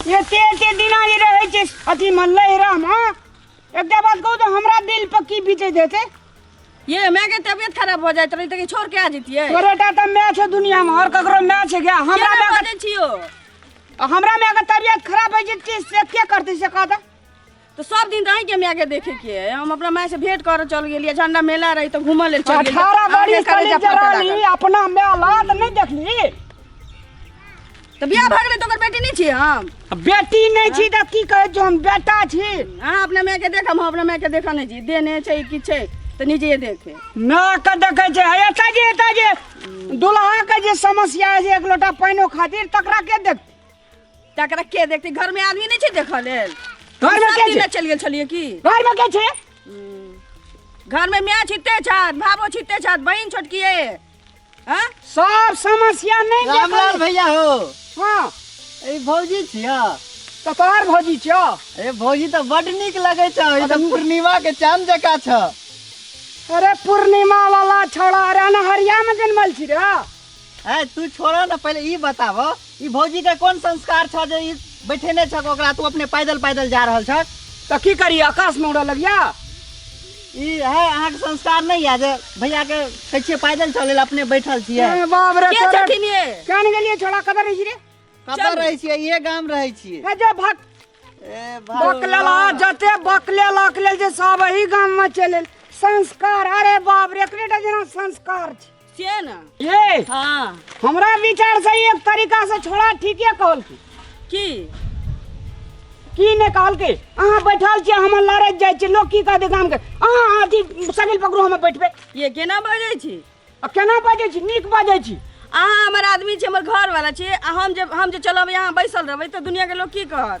एते एते दिना जे रहै छै अथी मन लहरामे एकटा बात कहू तऽ हमरा दिल पर की बीते देते ये माय के तबियत खराब भऽ जाइत रही तऽ छोड़ के आ जतियै तोरेटा तऽ माय छै दुनिया में और ककरो माय छै क्या हमरा हमरा माय के बजै छियो आ हमरा माय के तबियत खराब होइ छै से के करतै से कह दे तो सब दिन रही के हम आगे देखे के है। हम अपना माय से भेंट कर चल गेलिए झंडा मेला रही तो घूमल ले चल गेलिए। अठारह आगे बड़ी करे कली जा फटका जरानी लागल। अपना मेला त नहीं देखली तो बियाह भगले तो ओकर बेटी नहीं छी हम बेटी नहीं छी त की कहे जो हम बेटा छी हां अपना माय के देख हम अपना माय के देखा नहीं छी देने छै कि छै तो निजे देखे ना के देखे छै हे एता जे एता जे दुल्हा के जे समस्या है जे एक लोटा पानिओ खातिर तकरा के देख तकरा के देखते घर में आदमी नहीं छे देखऽ लेल घर में सब के दिन छै? चलि गेल छलिए की घर में के छै घर में माय छिते छत भाबो छिते छत बहिन छोटकी है हाँ? सब समस्या नहीं रामलाल देखल भैया हो हां ए भौजी छिया तो तोहर भौजी छियो ए भौजी तो बड नीक लगे छ ई तो पूर्णिमा के चांद जका छ अरे पूर्णिमा वाला छोड़ा अरे अनहरिया में जन्मल छी रे ए तू छोड़ो ना पहले ई बताव ई भौजी के कोन संस्कार छ जे ई बैठेने छक ओकरा तू अपने पैदल पैदल जा रहल छक तो की करी आकाश में उड़ा लगिया ई है अहाँ के संस्कार नहीं है जे भैया के कहै छियै पैदल चले ला अपने बैठल छियै ए, बाप रे के छोड़ा छथिन ये क्या नहीं गेलिए छोड़ा कदर रही रे कतऽ रहै छियै इहे गाम रहै छियै ए जे भक ए बकलेला जते बकले लकले जे सब एही गाम में चले संस्कार अरे बाप रे एकरेटा जेना संस्कार छै छियै ने ये हाँ हमरा विचार से एक तरीका से छोड़ा ठीके कहल की की की ने कहल की अहाँ बैठल छियै हमर लड़ैत जाइ छियै लोग की कहतै गाम के अहाँ अथी सगिल पकड़ू हमे बैठबै ये केना बजै छी आ केना बाजै छी नीक बाजै छी अहाँ हमर आदमी छी हमर घर वाला छी आ हम जे हम जे चलब यहाँ बैसल रहबै तऽ दुनिया के लोग की कहत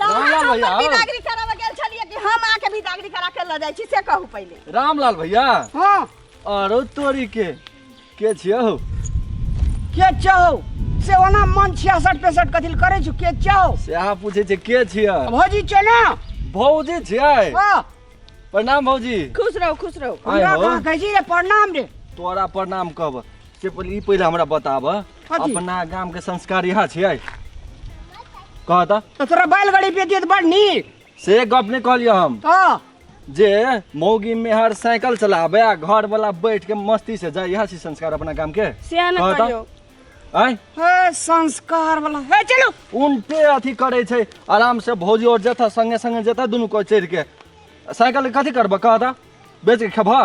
रामलाल भैया हम बिदागरी करावे गेल छलिए कि हम आके बिदागरी करा के ल जाई छी से कहू पहिले रामलाल भैया हां अरे तोरी के के छियो के चाहो से ओना मन छियासठ पैंसठ कथिल करे छु के चाहो से अहाँ पूछे छै के छियो भौजी छै ना भौजी छियै हां प्रणाम भौजी खुश रहो खुश रहो आय हमरा हो। कहाँ कहै छी रे प्रणाम रे तोरा प्रणाम कहब से पहिले ई पहिले हमरा बताब कथी? अपना गाम के संस्कार यहाँ छियै कह त तो तोरा बैलगाड़ी बेचिए तो बड़ नीक से गप नहीं कहलियो हम हाँ जे मौगी मेहर साइकिल चलाबे आ घर वाला बैठ के मस्ती से जाए यहाँ छी संस्कार अपना गाम के से न कह त। कहियो आय हे संस्कार वाला हे चलो उनटे अथी करे छै आराम से भौजी और जथा संगे संगे जथा दुनू को चढ़ के साइकिल कथी करबह कह त बेच के खेबह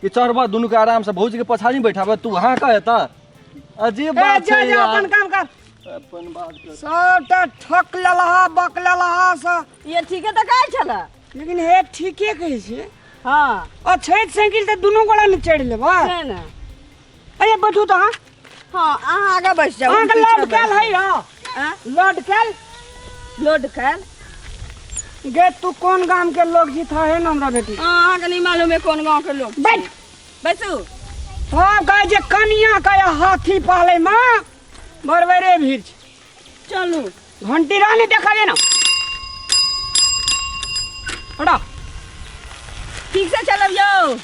कि चढ़बह दुनू के आराम से भौजी के पछाड़ी में बैठाबह तू हाँ कह एता अजीब ए, बात जा छै जा यार अपन काम कर अपन बात कर सबटा ठक लेलहा बक लेलहा सा ये ठीके तऽ कहै छलऽ लेकिन हे ठीके कहै छै हँ आ छठि साइकिल तऽ दुनू गोड़ा ने चढ़ि लेबह छै ने अरे बैठू तो अहाँ हाँ अहाँ आगा बैठ जाओ अहाँके लड कैल है यौ लड कैल लोड कर गे तू कोन गाम के लोग छी था है ना हमरा बेटी अहाँ के नहीं मालूम है कौन गांव के लोग बैठ बैठू हाँ कहे जे कनिया कहे हाथी पाले माँ बरबरे भीड़ छै। चलू घंटी रहने देखा देना हटा ठीक से चलब यौ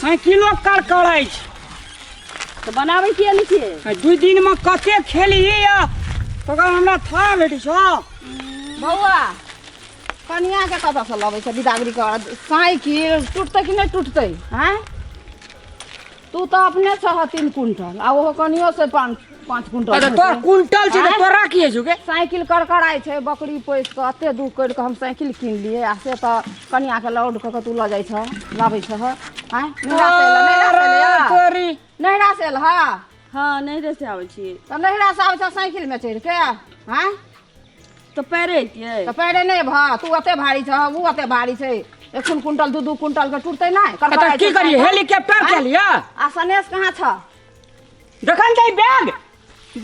साइकिलो कर करै छै तो बनाबै किए नहि छियै आ दू दिनमे कते खेलियै या तकर हमरा था भेटै छौ बौआ कनियाके कतऽसँ लबै छै बिदागरी कर साइकिल टुटतै कि नहि टुटतै आँय तू तऽ अपने छह तीन कुंटल आ ओहो कनियो से पाँच पाँच कुंटल अरे तोरा हेतै। कुंटल छै तऽ आँय? तोरा की होइ छौ गे साइकिल करकराइ छै बकरी पोसि कऽ एते दूर करि कऽ हम साइकिल कीन लिए आ से तऽ कनियाके लाउड कऽ कऽ तू लऽ जाइ छह लाबै छह आँय नैहरा से एलह नैहरा से अरे एलह तोरी नैहरा से एलह हाँ नहीं रह से आवे छी तऽ नैहरा से आबै छह साइकिलमे चढ़ि कऽ आँय तऽ पैरे अइतियै तऽ पैरे नहि भऽ तू ओते भारी छह ओ ओते भारी छै एखन कुंटल दू दू कुंटल के टूटतै नहि तऽ करबा की करियै हेलीकॉप्टर के लिए आ सनेश कहाँ छ देखन दे बैग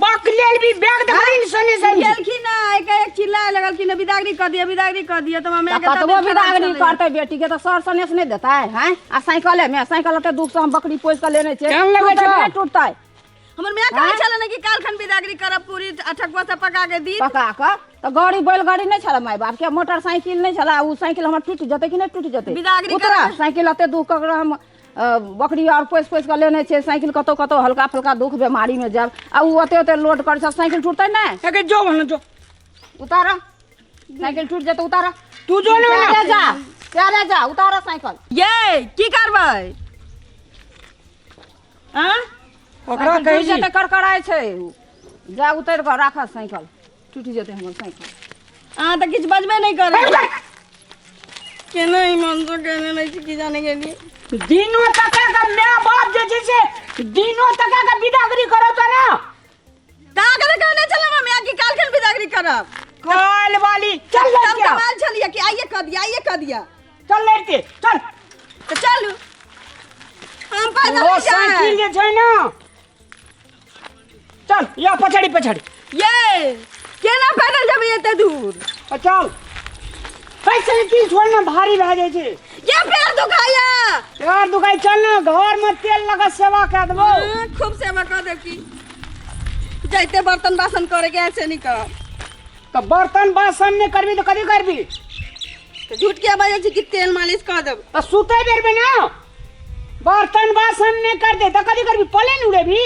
बक लेल भी बैग देखन सने सने गेलखिन ना एक एक चिल्लाए लगलखिन ना, बिदागरी कर दिया बिदागरी कर दिया तो हमें तऽ कतबो बिदागरी करतै बेटी के तऽ सर सनेश नहि देतै हैं आ साइकिले मे साइकिल ओते दुख से हम बकरी पोसि कऽ लेने छियै केहन लगै टूटतै छह? नहि टूटतै हमर माय कहै आँय? छलन कि काल खन बिदागरी करब पूरी आ ठकुआ सब पका के दी पका कऽ तऽ गाड़ी बैलगाड़ी नहि छलै माय बापके मोटरसाइकिल नहि छलै ओ साइकिल हमर टूटि जेतै कि नहि टूटि जेतै बिदागरी उतरा करबै। साइकिल एते दुख कऽ हम अ, बकरी आर पोसि पोसि कऽ लेने छियै साइकिल कतौ कतौ हल्का फल्का दुख बेमारीमे जायब आ ओ ओते ओते लोड करै छै साइकिल टूटतै नहि एके जो भन जो उतार साइकिल टूटि जेतै उतार तू जो ने प्यारे जा प्यारे जा उतार साइकिल ये की करबै आँ ओकरा साइकिल कहि टूटि जेतै करकराइ छै उ। जा उतरि कऽ राखऽ साइकिल टूटि जेतै हमर साइकिल अहाँ तऽ किछु बजबे नहि करै छी। केना ई मनसो केने रहै छी की जाने गेलियै दिनो तका के माय बाप जे छै से दिनो तका के बिदागरी करत ने कागज कहने चलम हम यहाँ की काल खन बिदागरी करब कॉल वाली चल हम लड़किया कमाल चलिए कि आइए कह दिया आइए कह दिया चल लड़के चल तो चलू हम पैदल वो नहीं साइकिल जाए जे छै ना चल या पछाड़ी पछाड़ी ये केना पैदल जब एते दूर आ, चल है साइकिल छोड़ ना भारी भए जाइ छै क्या पैर दुखाया यार दुकाई चल ना घर में तेल लगा सेवा कर देबो हाँ, खूब सेवा कर देव की जैते बर्तन बासन करे के ऐसे नहीं कर तो बर्तन बासन नहीं करबी तो कभी करबी तो झूठ के बजे छी कि तेल मालिश कर देव तो सुते बेर में ना बर्तन बासन नहीं कर दे तो कभी करबी पले नहीं उड़ेबी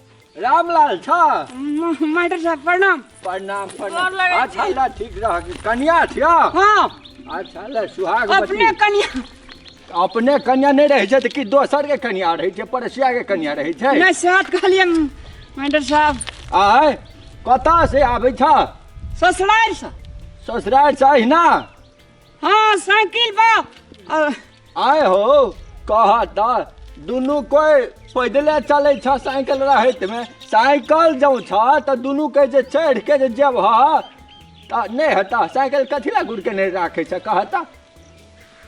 रामलाल छ मास्टर साहब प्रणाम प्रणाम प्रणाम अच्छा ल ठीक रह कन्या छियो हां अच्छा ल सुहाग अपने कन्या अपने कन्या नहीं रहे त कि दोसर के कन्या रहे छै परसिया के कन्या रहे छै नहीं साथ कहलिए मास्टर साहब आय कता से आबै छ ससुरार से ससुरार से अहिना हाँ साइकिल बा अ, आय हो कहा ता दुनू कोई पैदले चले छ साइकिल रहत में साइकिल जाऊ छ त दुनू के जे चढ़ के जे जब ह त नहीं हता साइकिल कथी ला गुड़ के नहीं राखे छ कहता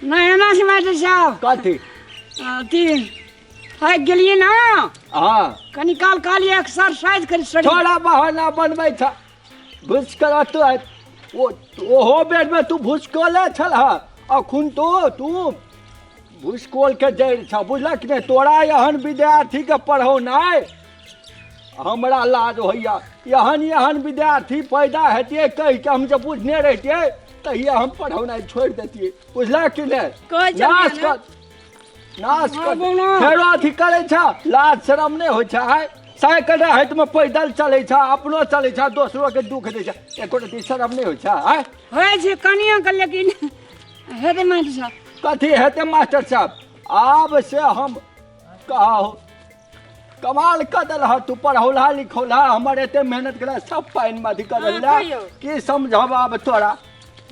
नहीं एना से बात छ कथी अथी है गेलिए ना हाँ कनी काल काल एक्सरसाइज करी सड़ी थोड़ा बहाना बनबै छ भुसकल तो है ओ ओहो बेर में तू भुसकले छल हा अखुन तो तू भुसकोल के जड़ छ बुझलक ने तोरा एहन विद्यार्थी के पढ़ौनाइ हमरा लाज होइया एहन एहन विद्यार्थी पैदा हेतिए कहि के हम जे बुझने रहितिए तहिया हम पढ़ौनाइ छोड़ि देतिए बुझलक कि ने कहि जब नाश ने। कर नाश कर फेरो अथी करै छ लाज शरम नहि होइ छ है साइकिल हाथ में पैदल चले छ अपनो चले छ दोसरो के दुख दे छ एको रति शरम नहीं हो छ है होय छै कनिया के लेकिन हेते मास्टर साहब कथी हेते मास्टर साहब आब से हम कहो कमाल कऽ देलह तू पढ़ौला लिखौला हमर एते मेहनत केला सब पानि में अथी कऽ हाँ, देला कहियौ। की समझब आब तोरा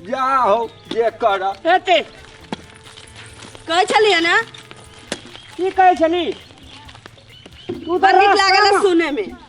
जा हो जे कर हेते कहै छलिए ना की कहै छली तू बड़ नीक लागल सुने में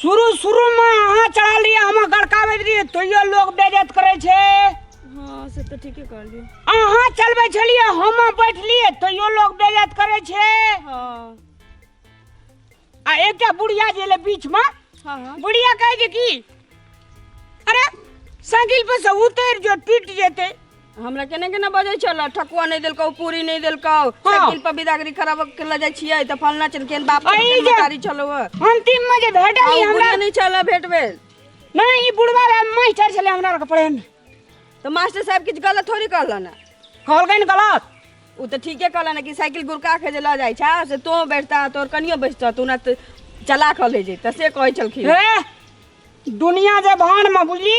शुरू शुरू में अहाँ चढ़ा लिए हम गड़काबैत रहिए तैयो लोग बेजत करे छे हाँ से तो ठीके कहलिए अहाँ चलबै छलिए हम बैठलिए तैयो लोग बेजत करे छे हाँ आ एकटा बुढ़िया जे ले बीच में हाँ हाँ बुढ़िया कहे जे की अरे साइकिल पर से उतर जो टूट जेते हमरा केना केना बजै छल ठकुआ नहि देलकौ पूरी नहि देलकौ साइकिल पर बिदागरी खराब के लऽ जाइ छियै तऽ फलना चल केन बाप अरे केन जे- मतारी छलौ हँ। अंतिम में जे भेटल आ ई ओ हमरा बुढ़िया नहि छल भेट भेल नहीं ई बुढ़वा रहे मास्टर छले हमरा आर के पढ़े में तऽ मास्टर साहब किछु गलत थोड़ी कहलन हँ। कहलकै ने गलत उ तऽ ठीके कहलन हँ कि साइकिल गुड़का के जे लऽ जाइ छा से तो बैठता तोर कनियो बैठता तू ना तऽ चला कऽ ले जैता से कहै छलखिन हे दुनिया जे भान में बुझली